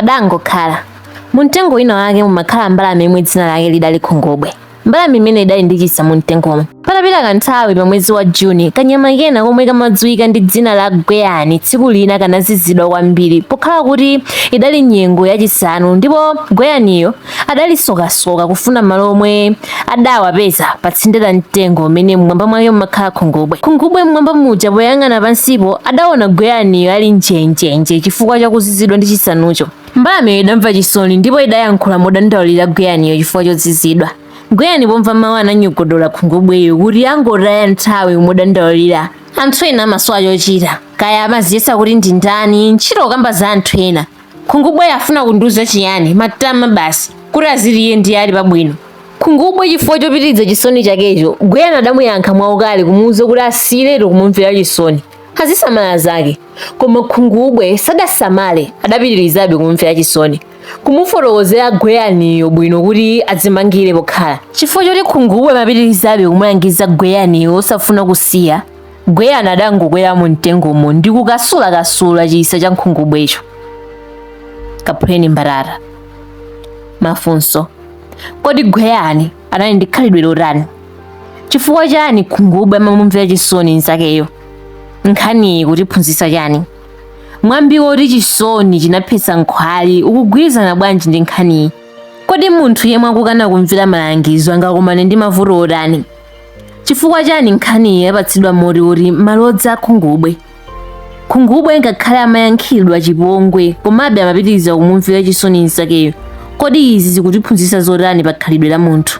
Padangokhala. Mumtengo wina wake mumakhala mbalame yomwe dzina lake lidali khungubwe. Mbalame imeneyi idali ndi chisa mumtengomo. Patapita kanthawi pa mwezi wa Juni, kanyama kena komwe kamadziwika ndi dzina la gweyani tsiku lina kanazizidwa kwambiri pokhala kuti idali nyengo yachisanu ndipo gweyaniyo adali sokasoka kufuna malo omwe adawapeza patsinde la mtengo umene mmwamba mwake mumakhala khungubwe khungubwe mmwamba muja poyang'ana pansipo adaona gweyaniyo ali njenjenje chifukwa chakuzizidwa ndi chisanucho mbalameyo idamva chisoni ndipo idayankhula modandaulira gweyaniyo chifukwa chozizidwa gweyani pomva mawu ananyogodola khungubweyo kuti yangotaya nthawi modandaulira anthu ena amasowa chochita kaya amaziyesa kuti ndi ndani ntchito kukamba za anthu ena Khungubwe afuna kundiuza chiyani? Matama basi kuti aziti iye ndiye ali pabwino. Khungubwe chifukwa chopitiriza chisoni chakecho, Gweyani adamuyankha mwaukali kumuuza kuti asiyiretu kumumvera chisoni, azisamala zake. Koma Khungubwe sadasamale, adapitirizabe kumumvera chisoni, kumufotokozera Gweyaniyo bwino kuti adzimangire pokhala. Chifukwa choti Khungubwe amapitirizabe kumulangiza Gweyaniyo osafuna kusiya, Gweyani adangokwera mu mtengomo ndi kukasulakasula chisa cha khungubwecho. Kaphuleni mbatata. Mafunso. Kodi Gweyani anali ndi khalidwe lotani? Chifukwa chani khungubwe amamumvera chisoni nzakeyo? Nkhaniyi ikutiphunzitsa chani? Mwambi woti chisoni chinaphetsa nkhwali ukugwirizana bwanji ndi nkhaniyi? Kodi munthu yemwe akukana kumvera malangizo angakumane ndi mavuto otani? chifukwa chani nkhaniyi yapatsidwa mutu woti malodza akhungubwe khungubwe ngakhale amayankhidwa chipongwe komabe amapitiriza kumumvera chisoni nzakeyo kodi izi zikutiphunzitsa zotani pa khalidwe la munthu